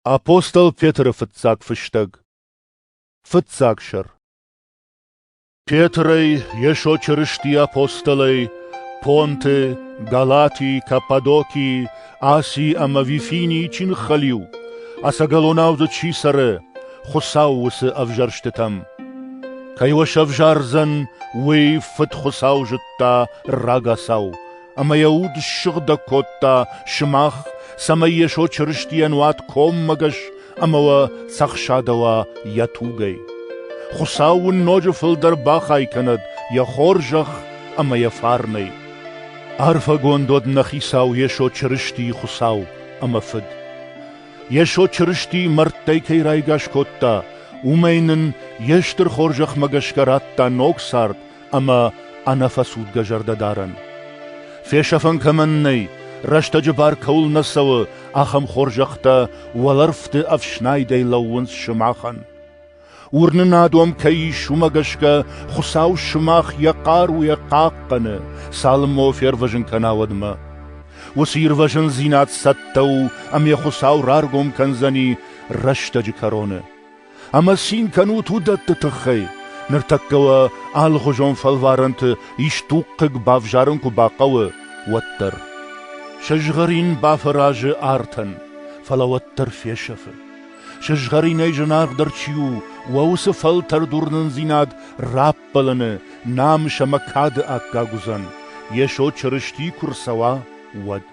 Апостол Петры фыццаг фыстӕг Фыццаг сӕр Петрӕй Йесо Чырысти апостолӕй Понты, Галати, Каппадокии, Асий ӕмӕ Вифинии чи ныххӕлиу, ӕцӕгӕлонау дзы чи цӕры, Хуыцау уыцы ӕвзӕрстытӕм. Кӕй уӕ сӕвзардзӕн, уый Фыд Хуыцау зыдта рагацау, ӕмӕ йӕ уд ссыгъдӕг кодта сымах, цӕмӕй Йесо Чырыстийӕн уат коммӕгӕс ӕмӕ уӕ цӕхсадӕуа йӕ тугӕй. Хуыцау уын ноджы фылдӕр бахай кӕнӕд йӕ хорзӕх ӕмӕ йӕ фарнӕй. Арфӕгонд уӕд нӕ Хицау Йесо Чырыстийы Хуыцау ӕмӕ Фыд. Йесо Чырыстийы мӕрдтӕй кӕй райгас кодта, уымӕй нын йе стыр хорзӕхмӕ гӕсгӕ радта ног цард ӕмӕ ӕнӕфӕцудгӕ зӕрдӕдарӕн. Фесӕфӕн кӕмӕн нӕй, рӕстӕджы бар кӕуыл нӕ цӕуы, ахӕм хорзӕхтӕ уӕлӕрвты ӕфснайдӕй лӕууынц сымахӕн. Уырнынад уӕм кӕй ис, уымӕ гӕсгӕ Хуыцау сымах йӕ хъаруйӕ хъахъхъӕны, цалынмӕ фервӕзын кӕна, уӕдмӕ. Уыцы ирвӕзындзинад цӕттӕ у, ӕмӕ Хуыцау раргом кӕндзӕни рӕстӕджы кӕроны. Ӕмӕ цин кӕнут уыдӕтты тыххӕй, ныртӕккӕ уӕ алыхуызон фӕлварӕнты исдуг хъыг бавзарын куы бахъӕуы, уӕддӕр. Сызгъӕрин бафӕразы артӕн, фӕлӕ уӕддӕр фесӕфы. Сызгъӕринӕй зынаргъдӕр чи у, уӕ уыцы фӕлтӕрдуырнындзинад раппӕлыны намыс ӕмӕ кады аккаг уыдзӕн, Йесо Чырысти куы рцӕуа, уӕд.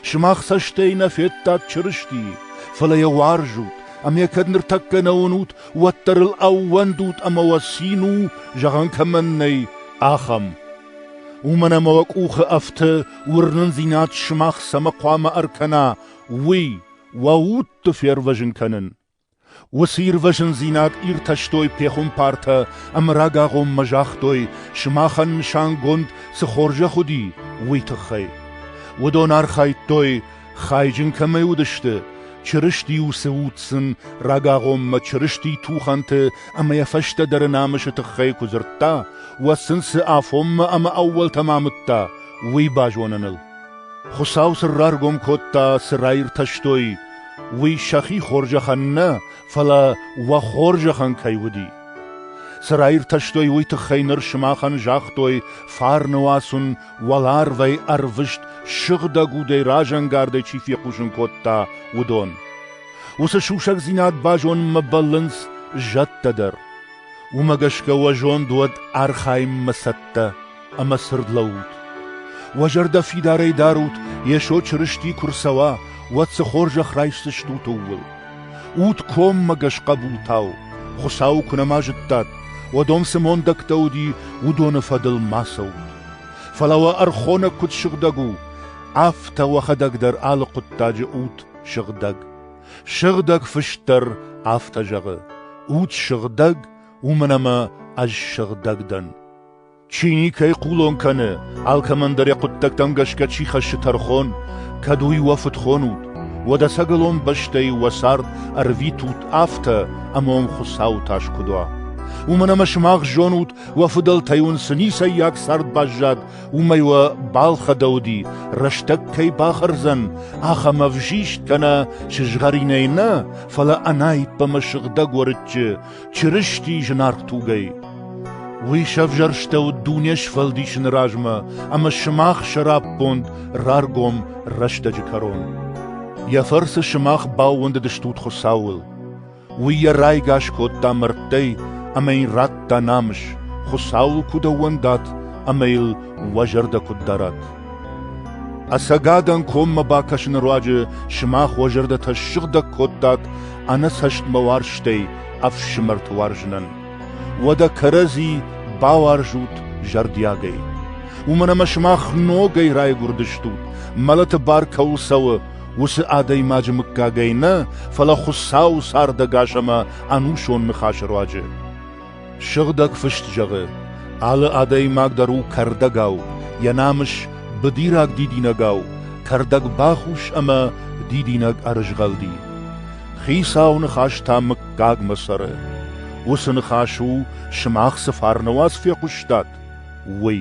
Сымах цӕстӕй нӕ федтат Чырыстийы, фӕлӕ йӕ уарзут, ӕмӕ кӕд ныртӕккӕ нӕ уынут, уӕддӕр ыл ӕууӕндут ӕмӕ уӕ цин у, зӕгъӕн кӕмӕн нӕй, ахӕм. Уымӕн ӕмӕ уӕ къухы ӕфты уырнындзинад сымах цӕмӕ хъуамӕ ӕркӕна, уый, уӕ удты фервӕзын кӕнын. Уыцы ирвӕзындзинад иртӕстой пехуымпартӕ ӕмӕ рагагъоммӕ загътой, сымахӕн нысангонд цы хорзӕх уыди, уый тыххӕй. Уыдон архайдтой, хайджын кӕмӕй уыдысты, Чырысти-иу цы уд сын рагагъоммӕ Чырысти тухӕнты ӕмӕ йӕ фӕстӕдӕры намысы тыххӕй куы дзырдта, уӕд сын цы афонмӕ ӕмӕ ӕууӕлтӕм амыдта, уый базоныныл. Хуыцау сын раргом кодта, цы раиртӕстой, уый сӕхи хорзӕхӕн нӕ, фӕлӕ уӕ хорзӕхӕн кӕй уыди. Цы раиртӕстой, уый тыххӕй ныр сымахӕн загътой, фарны уасын уӕларвӕй ӕрвыст сыгъдӕг удӕй разӕнгардӕй чи фехъусын кодта, уыдон. Уыцы сусӕгдзинад базонынмӕ бӕллынц зӕдтӕ дӕр. Уымӕ гӕсгӕ уӕ зонд уӕд архайынмӕ цӕттӕ. ӕмӕ цырд лӕуут. Уӕ зӕрдӕ фидарӕй дарут, Йесо Чырысти куы рцӕуа, уӕд цы хорзӕх райсдзыстут ууыл. Ут коммӕгӕс хъӕбултау, Хуыцауы куы нӕма зыдтат, уӕд ом цы мондӕгтӕ уыди, уыдоны фӕдыл ма цӕут. Фӕлӕ уӕ ӕрхонӕг куыд сыгъдӕг у, афтӕ уӕхӕдӕг дӕр алы хъуыддаджы ут сыгъдӕг. Сыгъдӕг Фыст дӕр афтӕ зӕгъы: Ут сыгъдӕг, уымӕн ӕмӕ ӕз сыгъдӕг дӕн. Чи никӕй хъулон кӕны, алкӕмӕн дӕр йӕ хъуыддӕгтӕм гӕсгӕ чи хӕссы тӕрхон, кӕд уый уӕ фыдхон ут, уӕд ӕцӕгӕлон бӕстӕйы уӕ цард ӕрвитут афтӕ, ӕмӕ уын Хуыцауы тас куыд уа. Уымӕн ӕмӕ сымах зонут, уӕ фыдӕлтӕй уын цы ницӕййаг цард баззад, уымӕй уӕ балхӕдӕуди, рӕстӕг кӕй бахӕрдзӕн, ахӕм ӕвзист кӕнӕ сызгъӕринӕй нӕ, фӕлӕ ӕнаиппӕмӕ сыгъдӕг уӕрыччы, Чырысти зынаргъ тугӕй. Уый сӕвзӕрстӕуыд дуне сфӕлдисыны размӕ ӕмӕ сымах сӕраппонд раргом рӕстӕджы кӕрон. Йӕ фӕрцы сымах баууӕндыдыстут Хуыцауыл. Уый йӕ райгас кодта мӕрдтӕй ӕмӕ йын радта намыс, Хуыцауыл куыд ӕууӕндат ӕмӕ йыл уӕ зӕрдӕ куыд дарат. Ӕцӕгадӕн коммӕ бакӕсыны руаджы сымах уӕ зӕрдӕтӕ ссыгъдӕг кодтат ӕнӕцӕстмӕ уарзтӕй ӕфсымӕрты уарзынӕн. Уӕдӕ кӕрӕдзи бауарзут зӕрдиагӕй. Уымӕн ӕмӕ сымах ногӕй райгуырдыстут, мӕлӕты бар кӕуыл цӕуы, уыцы адӕймаджы мыггагӕй нӕ, фӕлӕ Хуыцауы цардӕгас ӕмӕ ӕнусон ныхасы руаджы. Сыгъдӕг фыст зӕгъы: алы адӕймаг дӕр у кӕрдӕгау, йӕ намыс быдираг дидинӕгау, кӕрдӕг бахус ӕмӕ дидинӕг ӕрызгъӕлди. Хицауы ныхас та мыггагмӕ цӕры. Уыцы ныхас у, сымах цы фарны уац фехъуыстат, уый.